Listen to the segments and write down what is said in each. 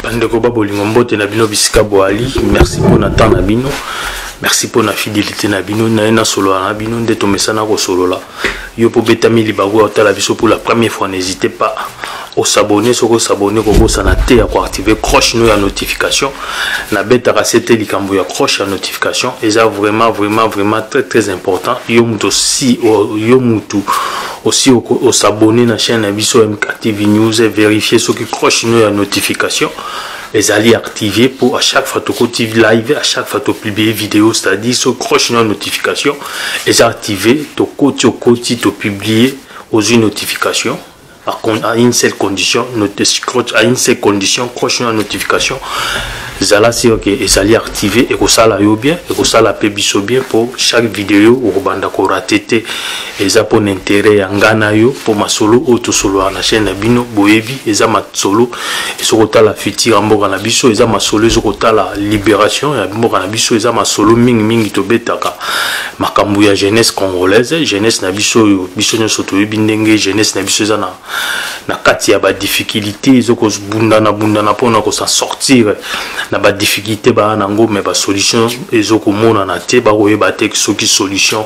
bandeko ba bolingo mbote na bino bisika boali merci mpo na temps na bino merci mpo na fidelité na bino naye nasolola na bino nde tomesana kosolola yo mpo obetami libaku ya kotala biso pour la première fois n'hésite pas osabone soki osabone kobosana te ya koactive croche no ya notification nabetaka se te likambo ya croche ya notification eza vraiment vraiment vraiment très très important yo moto osi yo moto osi osabone na chaîne na biso mktv news verifie soki croche no ya notification ezali active mpo à chaque fois tokoti live à chaque fois topublie video c'est-à-dire so croche no ya notification eza activé tokoti okoti topublie ozwi notification à une seule condition à une seule condition croche na notification zala sur ke ezali activé ekosala yo bien ekosala mpe biso bien mpo chaque video okobanda korate te eza mpo na intérêt ya ngai na yo mpo masolo oyo tosololaka na chaîne na bino boyebi eza masolo ezokotala futur ya mboka na biso eza masolo ezokotala liberation ya mboka na biso eza masolo mingi mingi tobetaka makambo ya jeunesse congolaise jeunesse na biso oyo biso nyonso toyebi ndenge jeunesse na biso eza na, na kati ya badifficulté ezokobundana bundana mpona kosa sortir na badifficulté baa nango me basolution ezokomonana te bakoyeba te soki solution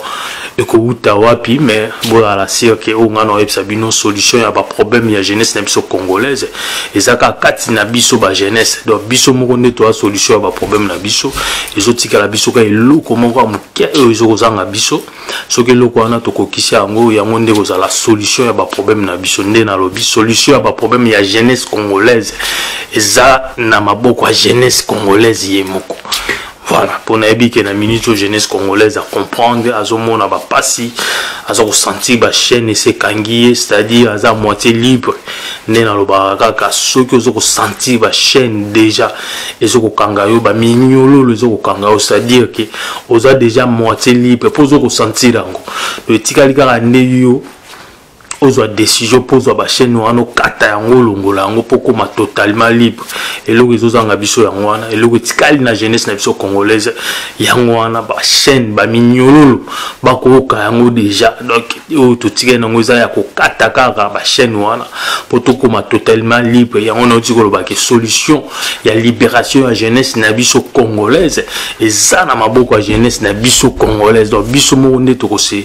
ekowuta wapi mais bozala sire ke oyo ngai naoyebisa bino solution ya baproblème ya jeunesse na biso congolaise eza kaka kati na biso bajeunesse donc biso moko nde toya solution ya baproblème na biso ezotikala biso kaka eloko moko ya moke oyo ezokozanga biso soki eloko wana tokokisi yango yango nde kozala solution ya baproblème na biso nde nalobi solution ya baproblème ya jeunesse congolaise eza na maboko ya jeunesse congolaise ye moko voilà mpo nayebi ke na minute oyo jeunesse congolaise acomprendre azomona bapasi aza kosentir bachaîne esekangi ye c'est-à-dire aza moitié libre nde nalobaka kaka soki oza kosentir bachaîne déjà eza kokanga yo baminyololo eza kokanga yo c'est-à-dire ke oza déjà moitié libre mpo oza kosentir yango etikali kaka nde yo ozwa decision mpo ozwa bachaine wana okata yango olongola yango mpo okoma totalement libre eloko ezozanga biso yango wana eloko etikali na jeunesse na biso congolaise yango wana bachaine baminyololo bakooka yango deja donc oyo totikali nango eza ya kokata kaka bachaine wana mpo tokoma totalement libre yango nauti kolobaka solution ya libération ya jeunesse na biso congolaise eza na maboko ya jeunesse na biso congolaise donc biso moko nde tokose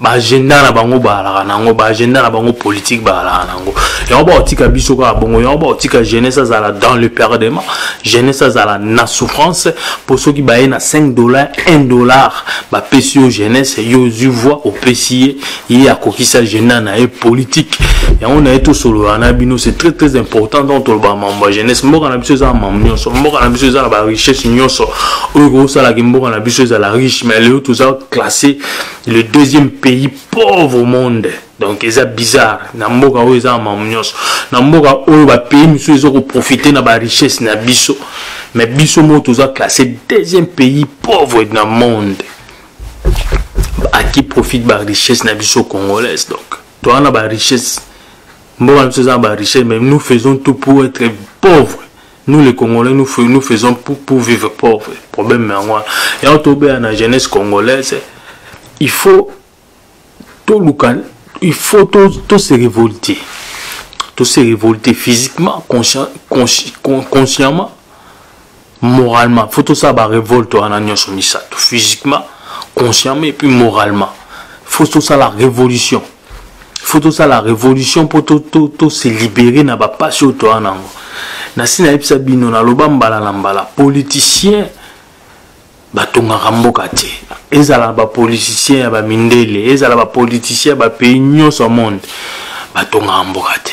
baagenda na bango baalaka na yango baagenda na bango politike baalaka na yango yango baotika biso kaka bongo yango baotika jeunesse azala dans le perdement jeunesse azala na souffrance mpo soki baye na 5 dollar 1 dollar bapesi yo jeunesse yo ozwi voi opesi ye ye akokisi agenda na ye politike yango na ye tosolola na bino c'est très très important donc tolobaka mambo ya jeunesse mboka na biso eza na mambo nyonso mboka na biso eza na barichesse nyonso oyo ekosalaki mboka na biso ezala riche mais lelo toza classe le deuxième pays pauvre au monde donc eza bizarre na mboka oyo eza mamu nyonso na mboka oyo bapays mosusu eza koprofite na barichesse na biso mais biso moko toza classe deuxième pays pauvre na monde à qui profite barichesse na biso congolaise donc toza na barichesse mboka na biso eza na barichesse mais nous faisons tout pour être pauvre nous les congolais nous, fais, nous faisons pour, pour vivre pauvre problème yango wana yango tobeya na jeunesse congolaise il faut toluka il faut to, to se révolter to se révolter physiquement conscien, consci, consciemment moralement il faut tosala barévolte wana nyonso misato physiquement consciemment et puis moralement il faut tosala révolution faut tosala révolution mpo tose libere na bapasi oyo toa nango nasi nayebisa bino naloba mbala na mbala politicien batongaka mboka te ezala na bapoliticien ya bamindele ezala bapoliticien ya bapays nyonso ya monde batongaka mboka te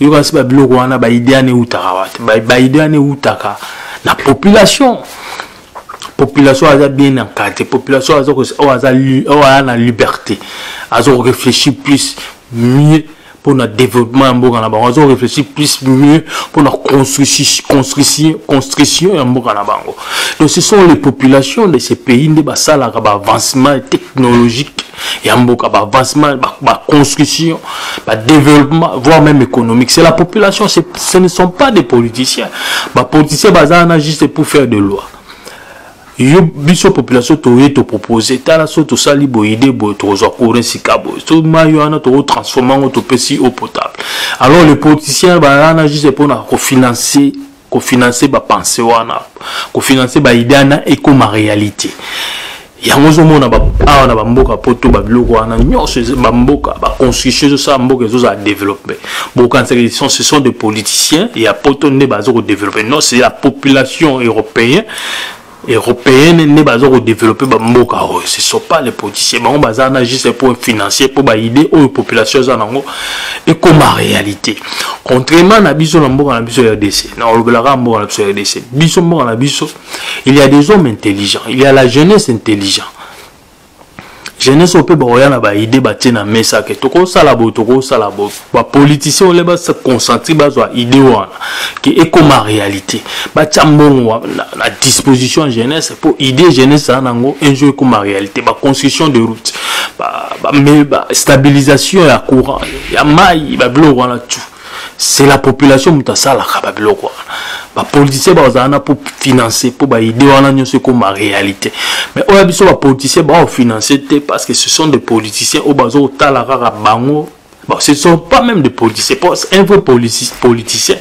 yoka si babiloko wana baide wana eutaka wapi baide wana eutaka na population population aza bien encadre population aza oyo aza oyo aya na liberté aza korefléchir plus mieux mpo na développement ya mboka na bango aza korefléchir plus mieux mpo na construction ya mboka na bango donc ce sont les populations de ce pays nde basalaka baavancement technologique ya mboka baavancement baconstruction badéveloppement voire même économique c'est la population ce ne sont pas des politiciens bapoliticien baza wana juste pour faire de loi yo biso population toye topropose tala so tosali boyide boye tokozwa courant sika boye so mai wana tokotransforme yango topesi eau potable alors le politicien baza wana juste mpona kofinancer kofinanse bapense wana kofinanse baide wana ekoma réalité yango ozomona awa na bamboka poto babiloko wana nyonso bamboka baconstitution ezosala mboka ezozala développe bokanisaki ce sont des politiciens ya poto nde baza kodeveloppe non c'est la population européen européenne nde baza kodeveloppe bamboka oyo oh, ce sont pas les politiciens bango baza na juste mpo financier mpo baide oyo population eza nango ekoma réalité contrairement na biso na mboka na biso ya rdc na olobelaka mboka na biso ya rdc biso mboka na biso il y a des hommes intelligents il y a la jeunesse intelligent jeunesse oyo mpe bakoya na baide batie na mesa ke tokosala boye tokosala boye bapoliticien ole baconsentir bazwa ide wana ke ekoma réalité batya mbongo na disposition ya jeunesse mpo ide jeunesse aa nango un jour ekoma réalité baconstruction de route bastabilisation ba, ba, ya courant ya mai babiloko wana tout c'est la population moto asalaka babiloko wana bapoliticien bazala na mpo financer mpo baide wana nyonso ekoma réalité mais oyo ya biso bapoliticien baofinancer te parce que ce sont des politiciens oyo baza kotala kaka bango Bon, ce ne sont pas même des politiciens. Un vrai politicien,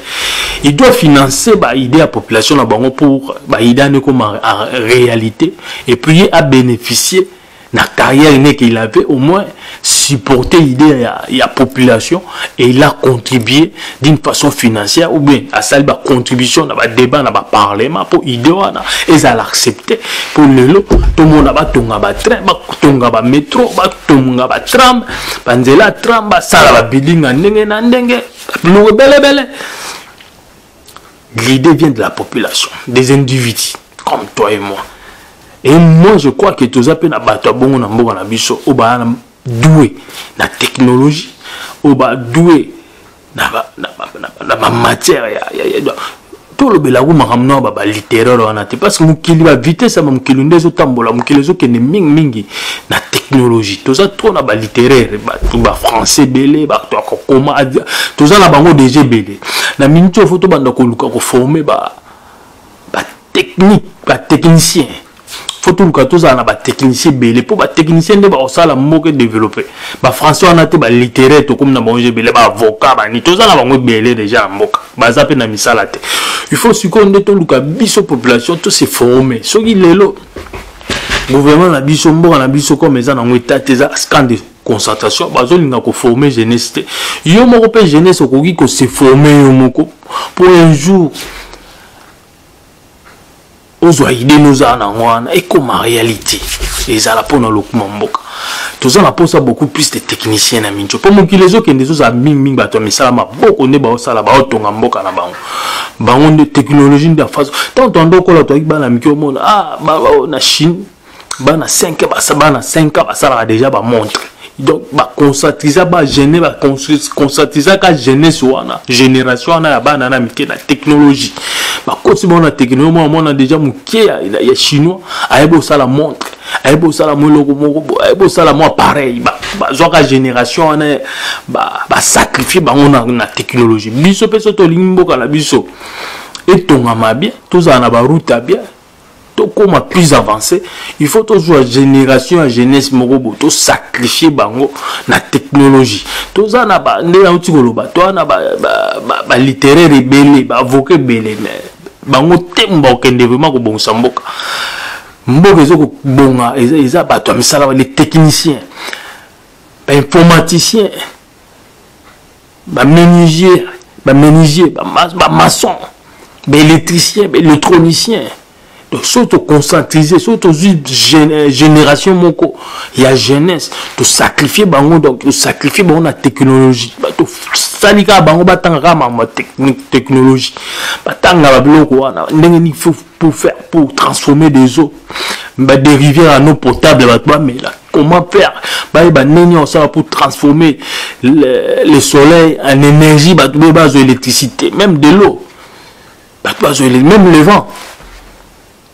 il doit financer bah, idée à population là, pour bah, idée à réalité et puis à bénéficier na carrière n'est qu'il avait au moins supporté l'idée il y a population et il a contribué d'une façon financière ou bien à ça ba contribution dans ba débat dans ba parlement pour idée wana et ça l'accepter pour le lot tout le monde a tonga ba train ba tonga ba métro ba tonga ba tram ba nzela tram ba sala ba building ndenge na ndenge belle belle L'idée vient de la population, des individus comme toi et moi. Et moi, je crois que tu as appelé Bato Bongo na Mboga na Biso, au ba doué la technologie, au ba doué na ba na ba na ba, na ba matière ya ya ya tolobela yango makambo nao baba littéraire wana te parce que mokili ba vitesse ya mokili nde ezotambola mokili ezokende mingi mingi na technologie toza trop na ba littéraire bato ba français ebele bato ya kokoma toza na bango deja ebele na minute oyo fo tobanda koluka koforme ba batechnique batechnicien fo toluka tozala na batechnicien ebele mpo batechnicien nde bakosala mboka edeveloppe bafrançais wana te balittéraire tokomi na bango ebele baavocat bani toza na bango ebele deja na mboka baza mpe na misala te il faut sikoyo nde toluka biso population tose forme soki lelo gouvernement na biso mboka na biso comme eza nango etat eza scande concentration bazolinga koforme jeunesse te yo moko mpe jeunesse okoki kose forme yo moko mpo un jour ozwa ide nozala na yango wana ekoma réalité ezala mpo na lokuma mboka toza na mposa beaucoup plus de technicien na minco mpo mokili ezokende ezozala mingimingi bato ya misala maboko nde baosala baotonga mboka na bango bango nde technologie nde ya faso ntango toanda okola toyaki bana mike omona ah, na chine bana 5 basa bana 5 ans basalaka déjà bamontre donc baconcentrisa bagene baconcentrisa jeunesse wana génération wana ya bana na mike na technologie bakoti bango na technologie mwana mwana déjà moke ya, ya, ya chinois ayebi osala montre ayebi osala mwa eloko moko ayebi osala mwa pareil bazwaka génération wana basacrifie ba bango na, na technologie biso mpe so tolingi mboka na biso etongama bien tozala na baroute ya bien tokóma plus avancé il faut tozwa génération ya jeunesse moko boye tosacrifie bango na technologie toza na nde nauti koloba toza na balittéraire ebele baavoka ebele mais bango te bakokende vraimen kobongisa mboka mboka eza kobonga eza bato ya misala les techniciens bainformaticien ba menuisier ba menuisier ba, ba maçon ba électricien ba électronicien donc soki toconcentrise soki tozwi euh, génération moko ya jeunesse tosacrifie bango donc tosacrifie bango na technologie tosali kaka bango batanga kaka makambo ya technologie batanga babiloko wana ndenge nini faut pour faire pour transformer des eaux badérivière ya no potable bato bamela Comment faire bayeba nini osala pour transformer le, le soleil en énergie bato boye bazwa électricité même de l'eau bato bazwa même le vent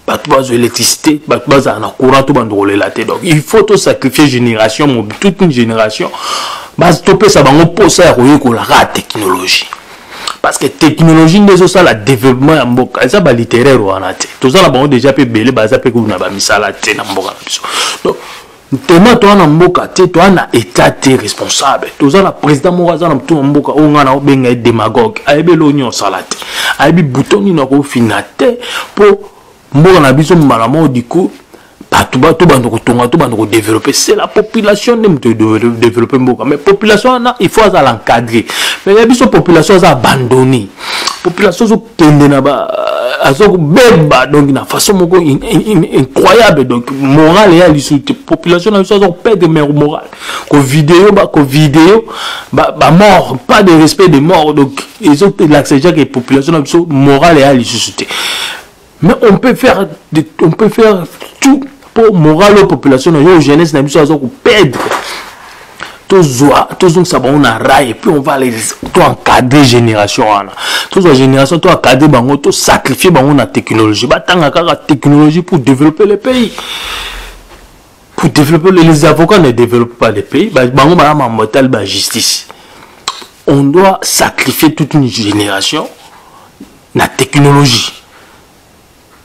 bato bazwa électricité bato bazala na courant to bandokolela te donc il faut tosacrifie génération toute une génération topesa bango mposa ya koyekolaka technologie parce que technologie nde ezosala développement ya mboka eza balittéraire wana te toza na bango déjà mpe ebele baza mpe kuna bamisala te na mboka na biso donc ntema toa na mboka te toa na état te responsable toza na président moko aza na motu na mboka oyo ngai naobenga ye démagogue ayebi eloko nini osala te ayebi bouton nini akofinga te mpo mboka na biso mbala moko diko bato ba tobanda kotonga tobanda kodeveloppe c'est la population nde moto edeveloppe mboka mais population wana il faut azala encadre mais ya biso population aza abandonne population azokende na ba azokobeba donc na façon moko incroyable donc morale eya lisusu te population na biso azokopede mer morale kovideo bakovideo bamort pas de respect de mort donc ezolakisa jake population na biso morale eya lisusu te mais on peut faire de, on peut faire tout pour moral aux population na yo jeunesse na biso aza koperdre tozwa tozongisa bango na rai et puis on va les to encadrer génération wana tozwa génération to encadrer bango to sacrifier bango na technologie batanga kaka technologie pour développer le pays pour développer les avocats ne développent pas le pays bango baya mambo etali ba justice on doit sacrifier toute une génération na technologie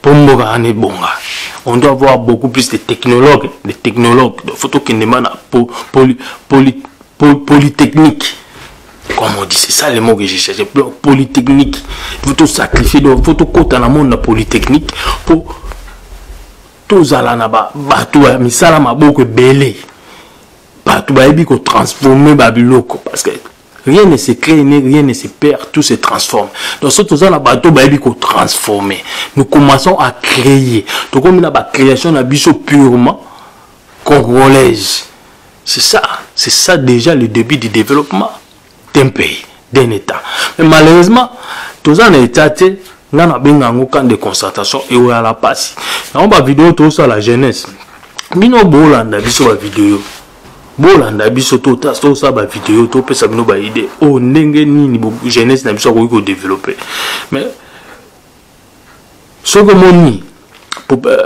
mpo mboka wana ebonga on doit avoir beaucoup plus de technologues de technologues donc faut tokende ma na po, poly, poly, poly, polytechnique comme on dit c'est ça le mot que j'ai cherché polytechnique faut tout sacrifier donc faut tokota na monde na polytechnique mpo tozala na bato ya misala maboko ebele bato bayebi kotransforme babiloko parce que rien ne se crée ni rien ne se perd tout se transforme donc soki toza na bato bayebi kotransforme nous commençons à créer tokomi na bacréation na biso purement congolaise c'est ça c'est ça déjà le début du développement d'un pays d'un état mais malheureusement toza na état te nga nabenga yango camp de concertation eoyala mpasi yango bavideo tosala jeunesse bino bolanda biso bavideo bolanda biso tosala bavideo topesa bino baide oyo oh, ndenge nini jeunesse na biso akoki kodeveloppe mais soki omoni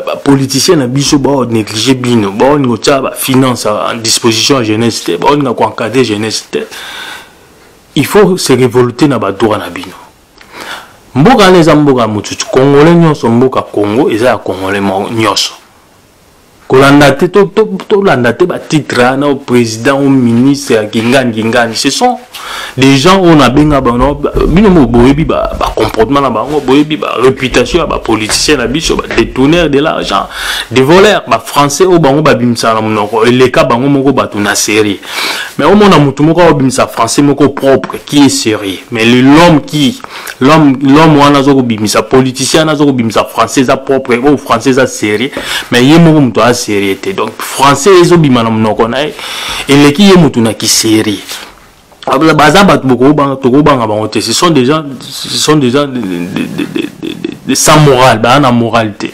bapoliticien euh, na biso baonéglige bino baolinga otya bafinance en disposition ya jeunesse te baolinga koencadre jeunesse te il faut se révolter na badroit na bino mboka wana eza mboka ya motutu congolais nyonso mboka congo eza ya congolais nyonso kolanda te tolanda te batitre hein, na président ou ministre ya kingani kingani ce sont des gens oyo nabenga bango bino mo boyebi bacomportement na bango boyebi baréputation ya bapoliticien na biso badetourneur de l'argent de voleur bafrançais oyo bango babimisaka na monoko eleka bango moko bato na série mais omona motu moko aobimisa français moko propre qui est sérieux mais l'homme qui l'homme wana aza kobimisa politicien wana aza kobimisa français eza propre oyo oh, français eza sérieux mais ye moko moto aza sérieux te donc français ezobima na monoko na ye eleki ye moto na kisérieux baza bato tokobanga bango te ce sont déjà ce sont déjà de, de, de, de, de, de sans morale baza na morale te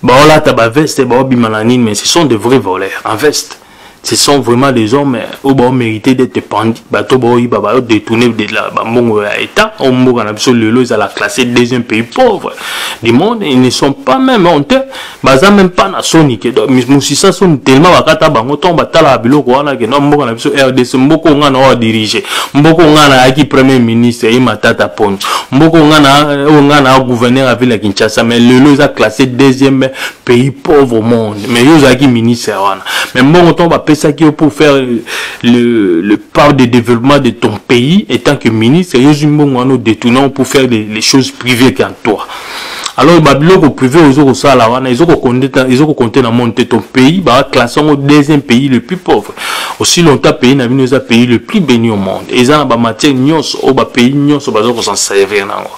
baolata baveste baobima na nini mais ce sont de vrais voleurs en veste ce sont vraiment des hommes euh, oyo baomérité d'être pendi bato baoyiba baodetourne bambongo ya état oyo mboka na biso lelo ezala classé deuxième pays pauvre du monde ils ne sont pas même honte baza même pas na soni ke mosisa soni tellement bakata bango ntongo batalaka biloko wana ke no mboka na biso rdc mboka oyo ngai na oyo adirige mboka oyo ngai nayaki premier ministre ye matata poni mboko nga na oyo nga na gouverneur ya ville ya kinshasa mais lelo eza classé deuxième pays pauvre au monde mais yo ozalaki ministre wana mais mbongo ntango bapesaki yo pour faire le, le part de développement de ton pays étant que ministre yo ozwi mbongo wana odetournant pour faire les, les choses privées qu'en toi alors ba biloko privé oyo ezokosala wana ezokokonte na monde te ton pays baklasse yango deuxième pays le plus pauvre aussi longtemps pays na bino eza pays le plus béni au monde eza na bamatière nyonso oyo bapays nyonso baza kosan servir na yango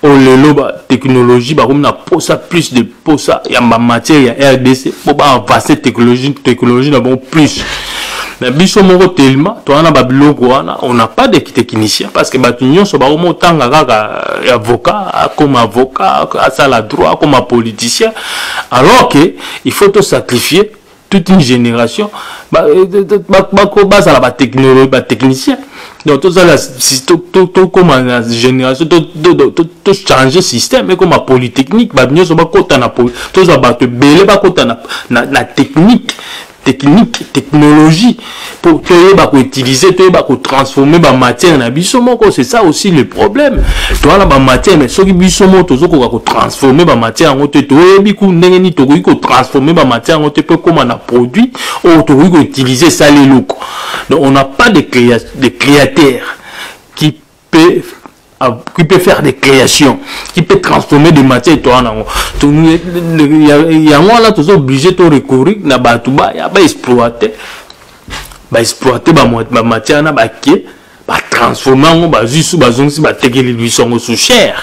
oyo lelo batechnologie bakomi na posa plus de posa ya bamatière ya rdc mpo baavance technologie na bango plus mais biso moko telema toza na babiloko wana on n'a pas de technicien parce que bato nyonso baomi otanga kaka euh, avocat akoma avocat asala droit akoma politicien alors que il faut tosacrifier toute une génération euh, bazala batechnologie batechnicien donc tozala tokoma na génération tochange système ekoma polytechnique bato nyonso bakota na tozwa bato ebele bakota na technique technique technologie po toyeba koutilize toyeba kotransforme bamatière na biso moko c'est ça aussi le problème toza na bamatière mais soki biso moko tozokoka kotransforme bamatière yango te toyebi ku ndenge nini tokoki kotransforme bamatière yango te mpo ekóma na produit oyo tokoki koutilize esala eloko donc on n'a pas de, créa de créateur peut qui peut faire des créations qui peut transformer des matières toa nango yango wana toza obligé to recourir na bato baya baexploite baexploite bamatière wana bake batransforme yango bazwi su bazongisi batekeli biso yango sous cher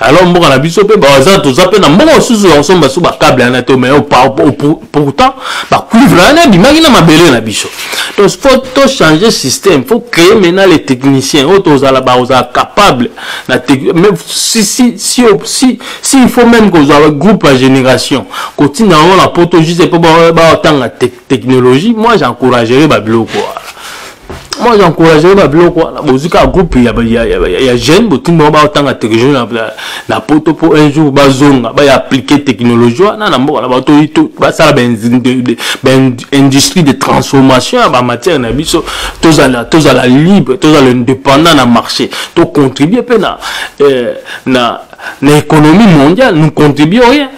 alors mboka na biso mpe baza toza mpe na mboka mosusu ya kosomba so bakable yana te mai pourtant bacuivre wana ebimaki na mabele na biso donc fo tochange système fo créer maintenant les techniciens oyo tozala bakozala capable na si, si, si, si, si il faut même kozwa groupe ya génération kotinda yango na poto juste mpo batanga technologie moi j'encouragerai babiloko wana moi j'encourage ba biloko wana bozwi kaka groupe ya, ya, ya, ya, ya jeune botindi bango baotanga technologie na, na, na poto mpo un jour bazonga baya aplike technologie wana na mboka na bato basala baindustrie de transformation ya bamatière na biso tozala tozala libre tozala indépendant na marché tocontribue mpe na, eh, na, na économie mondiale nous contribue rien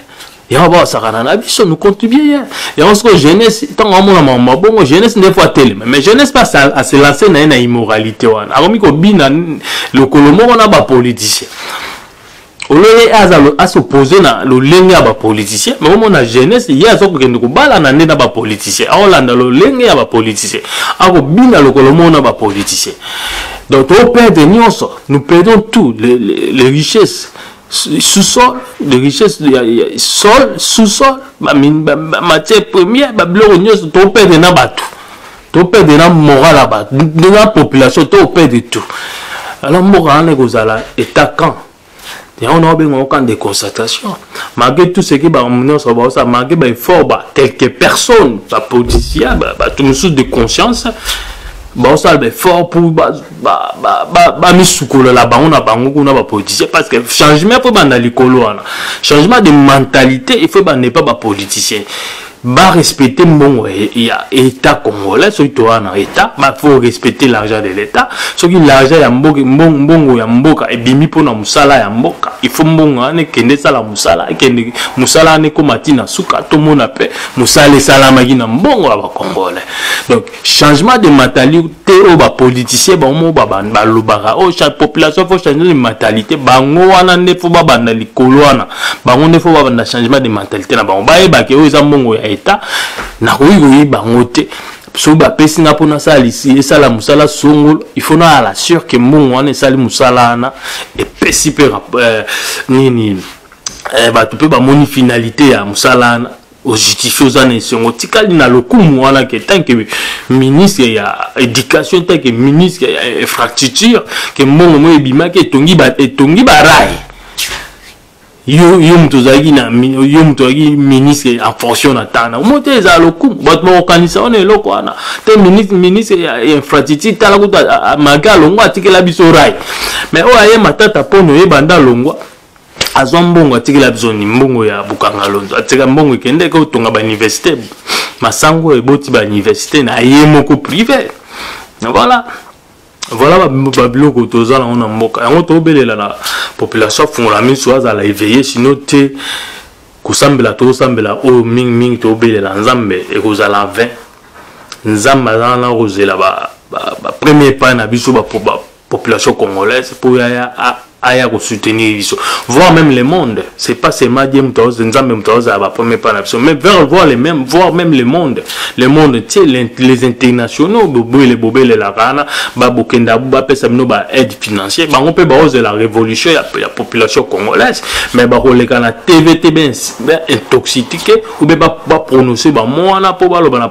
yango bakosakana na biso nous contribue ye yango sikoyo jeunesse ntango amona makambo mabongo jeunesse nde fo atelema mais jeunesse mpe aselance na ye na immoralité wana akomi kobina lokolo moko na bapoliticien olole aza asopose na lolenge ya bapoliticien me omona jeunesse ye aza kokende kobalana nde na bapoliticien akolanda lolenge ya bapoliticien akobina lokolo moko na bapoliticien donc toperde nyonso nous perdons tout les, les, les richesses sous-sol de richesse ya sol sous-sol matière première babiloko nyonso topede na bato topede na moral ya bato na population topede tout alors mboka wana ekozala état camp yango na obengaka camp de constatation malgré tout ce que bango nyonso baosala malgré baeffort ba quelques personnes bapoliticien bato mosusu de conscience baosala baeffort pour bamisukolela bango na bango kuna bapoliticien parce que changement efo ebanda likolo wana changement de mentalité efo ebanda epa bapoliticien barespecte mbongo ya état congolais soki toa na état bafo respecte l'argent de l'état soki l'argent ya mbongo ya mboka ebimi mpo na mosala ya mboka ifo mbongo wana ekende esala mosala ekende mosala wana ekoma ti na suka tomona mpe mosala esalamaki na mbongo ya bacongolais donc changement de mentalité te oyo bapoliticien bango moko balobaka oyo oh, population fo changement de mentalité bango wana nde fo babanda likolo wana bango nde fo babanda changement de mentalité na bango bayebake oyo eza mbongo ya etat nakoki koyeba bango te soki bapesi nga mpo nasala lisi esala mosala songolo ifo naya la sure ke mbongo wana esali mosala wana epesi mpe euh, nini euh, bato mpe bamoni finalité ya mosala wana ojustifie oza na esengo otikali na lokumu wana ke tanke ministre ya éducation tanke ministre ya infrastructure ke mbongo moyo ebimaki etongi barai yo yo moto ozalaki na yo moto ozalaki ministre en fonction na ntango na omo te ezala lokumu bato bakokanisa wana eloko wana te ministre ministre ya infrastructure tala kutu mage alongwa atikela biso rai mais oyo aye matata mpona oyebanda alongwa azwa mbongo atikela bizoni mbongo ya bokanga londo atika mbongo ekende ke otonga bauniversité masango eboti bauniversité na ye moko privé voilà voilà babiloko ba toza nango na mboka yango tobelela na population afungola miso azala eveille sino te kosambela tosambela oyo mingimingi tobelela nzambe ekozala 20 nzambe azala na kozela bapremier ba, ba epai na biso population congolaise mpo yaya aya kosoutenir biso voir même le monde c'est pas seulement die moto aoz nzambe moto aozala bapremier mpa na biso mais vers voir le même voir même le monde le monde ntie les internationaux bobele bobelelaka wana babokenda bapesa bino ba aide financier bango mpe baozela révolution ya, ya population congolaise mais bakoleka na tv te baintoxitique oube baprononce bamo wana mpo baloba na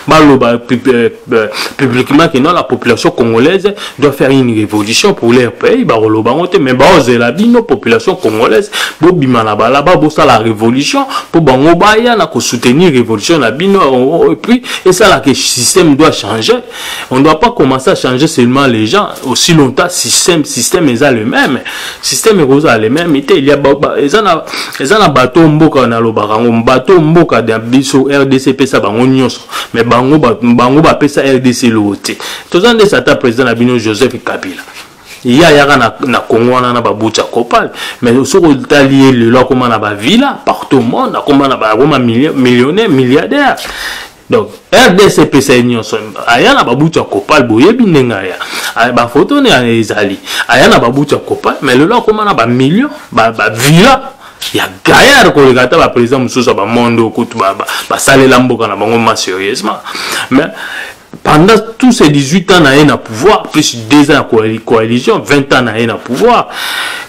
baloba euh, Euh, publiquement que non la population congolaise doit faire une révolution pour leur pays bakoloba yango te mais baozela bino population congolaise bobima na balaba bosala révolution mpo bango baya na kosoutenir révolution na bino oh, oh, et puis esala que système doit changer on ne doit pas commencer à changer seulement les gens aussi longtemps système système eza le même système ekozala le même te eza na bato mboka nalobaka yango bato mboka na biso rdc epesa bango nyonso mais bango bango bapesa rdc eloko te toza nde sata président na bino joseph kabila ye ayaka na, na congo wana na babuti ya copal mais soki otali ye lelo akoma na bavilla partout monde akoma na akoma millionnaire milliardaire donc rdc epesa ye nyonso aya na babuti ya copal boyebi ndenge aya ah, bafoto nde ezali aya na babuti ya copal mais lelo akoma na bamillion bavilla ba ya gaillard koleka ata baprésident mosusu ya bamonde oyo kutu basalela mboka na bango ma sérieusement mais pendant tous ces 18 ans na ye na pouvoir plus 2 ans ya coalition 20 ans na ye na pouvoir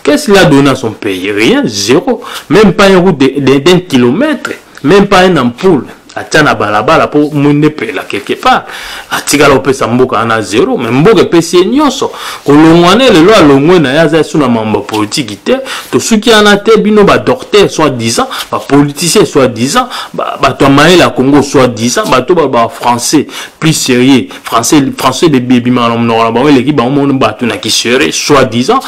qu'est-ce qu'il a donné à son pays rien zéro même pas une route d'un kilomètre même pas un ampoule atya na balabala mpo mwinde epela quelque part atikala kopesa mboka wana zero me mboka epesi ye nyonso kolongwa ne lelo alongwe na ye aza esu na mambo ya politiki te tosuki wana te bino badocteur soit disant bapoliticien soit disant bato ya mayele ya congo soit disant bato baloba français plus sérieux français français bebimaka na monoko na bango eleki bango mono bato na kisere soit disant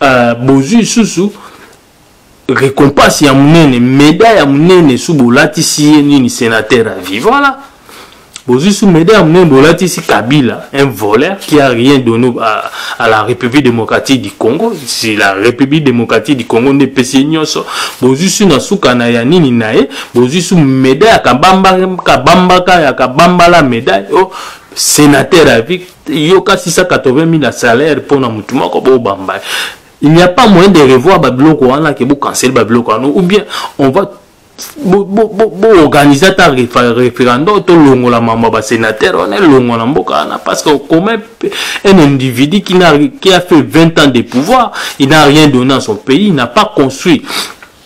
euh, bozwi lisusu récompense ya munene médaille ya munene sous bolatisi ye nini sénateur à vie voilà bozwi sous médaille ya munene bolatisi kabila un voleur qui a rien donné à, à la république démocratique du congo si la république démocratique du congo nde epesi ye nyonso bozwi sous na suka na ya nini na ye bozwi sous médaille ya kabamba kabambaka ya kabambala médaille oh, sénateur à vie yoka 680 000 ya salaire mpo na motu moko bobamba Il n'y a pas moyen de revoir Babiloko wana que vous cancelez Babiloko wana ou bien on va boorganize ata référendum tolongola mambo ya basénateur wana elongwa na mboka wana parce que commun un individu qui, a, qui a fait 20 ans de pouvoir il n'a rien donné à son pays il n'a pas construit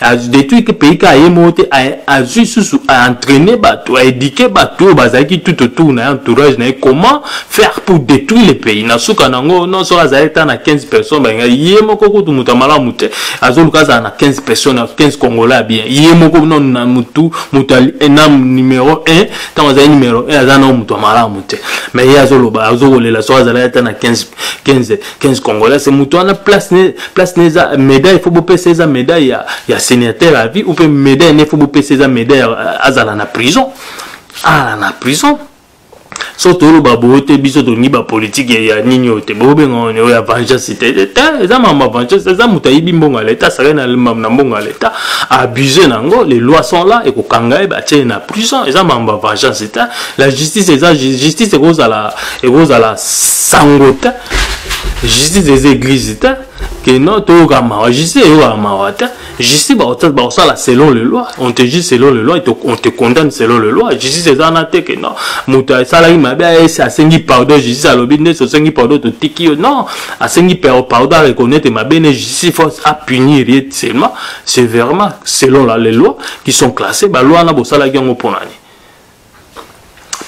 adetruire te pays kaka ye moko te azwi susu aentraine bato aedike bato oyo bazalaki tout autour na ye entourage na ye comment faire pour détruire le pays na suka na yango non soki azali ata na 15 personnes balinga ye moko kutu moto ya malamu te azoluka azala na 15 personnes na 15 congolais ya bien ye moko non na motu moto na numero 1 ntango azali numero 1 aza na moto ya malamu te mais ye azoloba azokolela soki azalaki ata na 15 15 15 congolais c'est moto wana place ne place ne eza médaille faut bopesa eza médaille ya, ya sénateur à vie ou mpe médaille ne faut bopesa eza médaille euh, azala na prison ala na prison so toloba boye te biso tolingi bapolitike ya nini oyo te bobenga oyo ya vengeance te te eza mama vengeance eza moto ayibi mbongo ya leta asakali na mbongo ya leta abuse na yango les lois sont là ekokanga ye batie na prison eza mama vengeance te la justice eza justice ekozala ekozala sango te justice eza eglise te que non toyoka mawa justice eyokaka mawa te justice bakosala selon le loi on te juge selon le loi on te condamne selon le loi justice eza na te que non moto asalaki mabe aesi asengi pardon justice alobi nde sosengi pardon totiki yo non asengi pardon areconnaitre mabe ne justice faut apunir ye seulement severement selon la les lois qui sont classées baloi wana bosalaki yango mpo na nini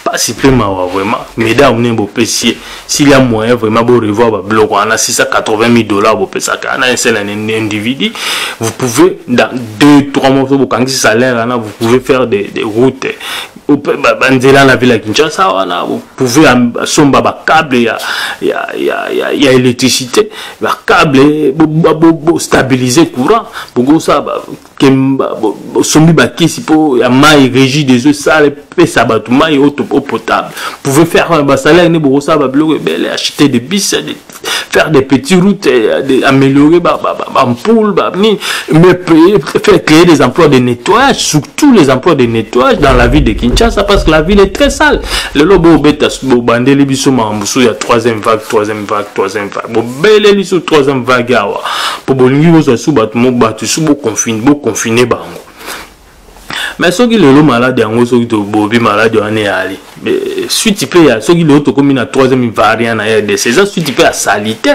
pasi mpe mawa vraiment mesdames ne bopesi ye s'il ya moyen vraiment borevoir babiloko wana 680 000 dollars bopesaka ana esela na individu vous pouvez dans 2 3 mois soki bokangisi salaire wana vous pouvez faire des, des routes banzela na ville ya kinshasa wana vous pouvez asomba bacable ya, ya, ya, ya, ya électricité bacable bostabilise courant bokosala kemba osombi bakisi mpo ya mai régie des eaux sala epesa bato mai eau potable pouvez faire euh, basalaire nde bokosala babiloko ebele acheter des bis euh, faire des petits routes euh, de, améliorer bampoule banini mais payer, faire créer des emplois de nettoyage surtout les emplois de nettoyage dans la ville de kinshasa parce que la ville est très sale lelo bobeta bobandeli biso makambo mosusu ya troisième vague troisième vague troisième vague beleli so troisième vague awa mpo bolingi bozwa su bato mo bato su boconfine boconfine bango mais soki lelo malade yango soki tobobi malade wana eyali suite mpe ya soki lelo tokomi na troisième variant na rdc eza suite mpe ya salite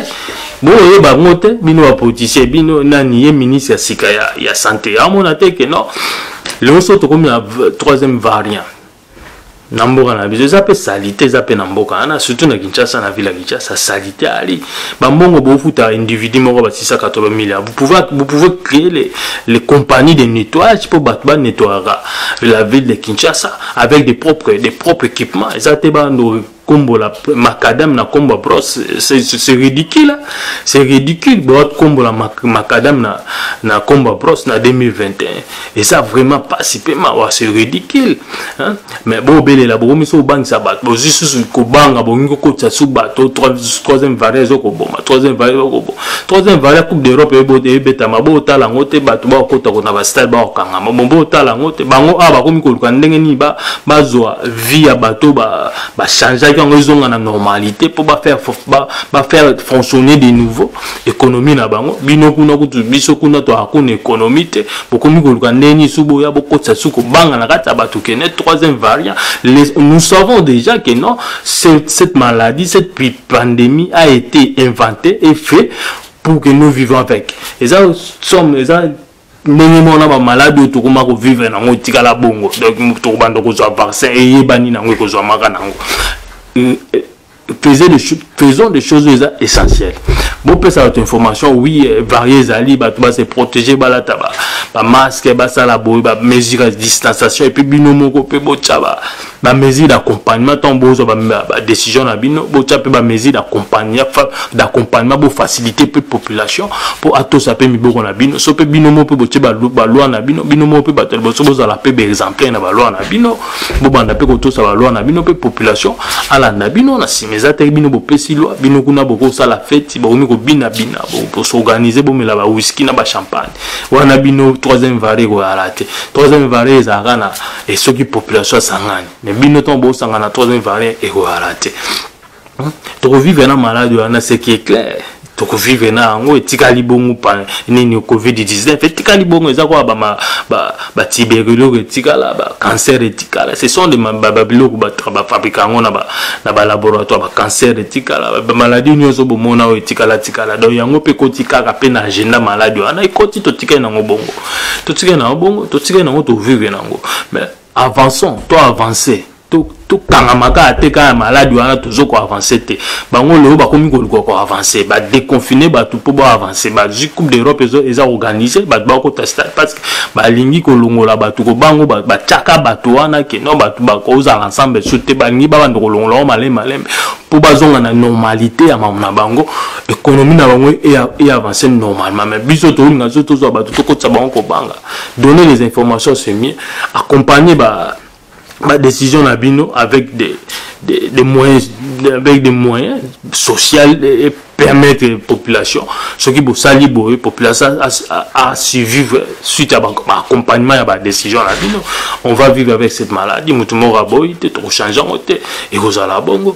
boyeba yango te bino bapoliticien bino nani ye ministre ya sika ya, ya sante amona te ke non lelo so tokomi na troisième variant na mboka na biso eza mpe salite eza mpe na mboka wana surtout na kinshasa na ville ya kinshasa salite ali bambongo bofuta individu moko ba 680 milliard vous pouvez créer les, les compagnies de nettoyage mpo bato banettoyaka la ville de kinshasa avec des propres, des propres équipements eza te bando kombo la macadam na kombo ya brosse c'est ridicule hein. c'est ridicule boa kombo la macadam na, na kombo ya brosse na 2021 eza vraiment pasi mpe mawa c'est ridicule hein? mais bobelela bokomi so obangisa bato bozwi susu kobanga bongi kokotisa su bato troisième varia ezokoboma troisième varia ezokoboma troisième varia coupe d'europe ebetama botala yango te bato bakokota kona bastade bakokangama bon botala yango te bango awa bakomi koluka ndenge nini bazwa vie ya bato bachangeaki ba yango ezonga na normalité mpo bafaire ba, ba faire fonctionner de nouveau économie na bango bino kuna kutu biso kuna toaka kuna économie te bokomi koluka ndenge nini su boya bokotisa su kobanga na kati ya bato kene troisième variant Les, nous savons déjà que non cette, cette maladie cette pandémie a été inventée et fait pour que nous vivons avec eza somme eza ndenge moko na bamaladi oyo tokoma kovivre nango etikala bongo donc tokobanda kozwa vaccin eyebani nango ekozwamaka nango euh, euh, faisons des, faisons des choses eza essentiel bopesa bato information oui euh, varie ezali bato base protege balata bamaske basala boye bamesure ya distanciation epuis bino moko mpe botya ba mesure d'accompagnement ntango bozwa badécision na bino botya mpe bamesure d'accompagnement bofacilité mpe population mpo atosa mpe miboko na bino so mpe bino moko mpe botye baloi na bino bino moko mpe bato ya liboso bozala mpe baexemplaire na baloi na bino bobanda mpe kotosa baloi na bino mpe population alanda bino na nsima eza te bino bopesi loi bino kuna bokosala feti bokomi kobinabina bosorganize bomela bawiski na bachampagne wana bino troisième vare ekoyala te troisième vare ezalaka na et ce qui population à Sangani. Mais bien autant beau Sangana 3e variant et quoi raté. Donc vivre dans malade on a ce qui est clair. Donc vivre na ngo etika libongo pa nini covid 19 etika libongo eza quoi ba ma ba ba tiberilo etika la ba cancer etika la ce sont des ba ba biloko ba ba fabriquer ngo na ba na ba laboratoire ba cancer etika la ba maladie nyoso bomona etika la tika la donc yango pe kotika ka pe na agenda malade on a ikoti to tika na ngo bongo totikali na bongo totikali nango tovivre nango mais avançons to avancer tokangama kaka te kaka maladi wana tozo koavanse te bango lelo bakomi koluka koavanse badeconfine bato mpo baavanse bazwi coupe d'europe eza organise bato bakota stade parce que balingi kolongola bato kobango batyaka bato wana keno bato bakozala ensemble so te balingi babanda kolongola yango malembe malembe mpo bazonga na normalité ya mamu na bango économie na bango e avance normalement mais biso tolinga biso tozwa bato tokotisa bango kobanga donner les informations c'est mieux accompagner ba badécision na bino avec des, des, des moyens avec des moyens social et permettre population soki bosali boye population a survivre suite ya baaccompagnement ya badécision na bino on va vivre avec cette maladie moto moko aboyi te tokochange yango te ekozala bongo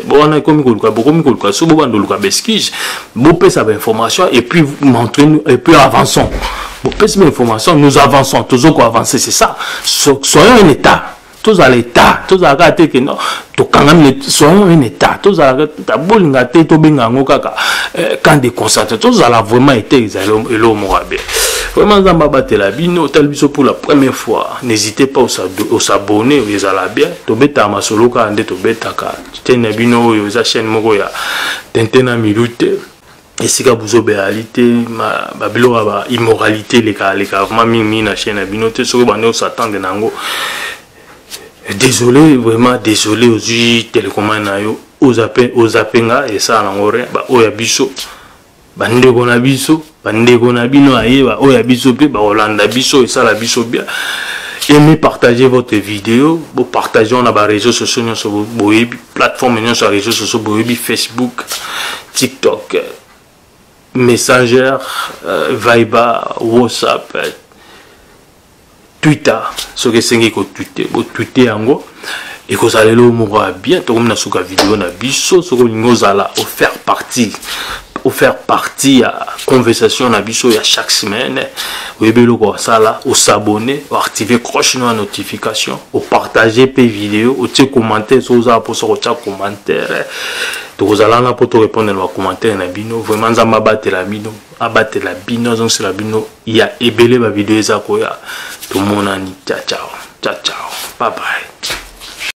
wana ekomi koluka bokomi koluka so bobanda oluka baeskige bopesa bainformation et puis montrenu et puis avançons bopesi bainformation nous avançons tozo koavance c'est ça so, soyons un état tozala état tozala kaka te keno tokangami soyons un état tozala tabolinga te tobenga yango kaka eh, camp de concentre tozala vraiment ete ezali eloko moko ya bien vraiment nzambe abatela bino otali biso pour la première fois n'hésitez pas osabonne ezala bien tobetaka masolo kaka nde tobetaka chaine na bino oyo eza chaine moko ya tente na milu te esika buzoba eyali te babiloko ya baimmoralité elekaleka vraimen mingimingi na chaine na bino te soki bande osatande na yango désolé vraiment désolé ozwi telekomane na yo ozape nga esala nango rien baoyo ya biso bandeko na biso bandeko na bino ayeba oyo ya biso mpe bakolanda biso esala biso bien aimez partager votre vidéo bo partage na ba réseaux sociaux nyonso boyebi plateforme nyonso ya réseaux sociaux boyebi facebook tiktok messenger euh, viber whatsapp twitter soki esengi kotwite botwite yango ekozala eloo moko ya bien tokomi na suka video na biso soki olingi ozala ofaire partie ofaire partie ya conversation na biso ya chaque semaine oyebi eloko osala osabone oactive croche no ya notification opartage mpe video otie commentaire soki ozala mposa kotya commentaire tokozala wana mpo torepondre na bacommentaire na bino vraiment nzambe abatela bino abatela bino azongisela bino ya ebele bavideo eza koya tomonani ciao ciao ciao ciao bye bye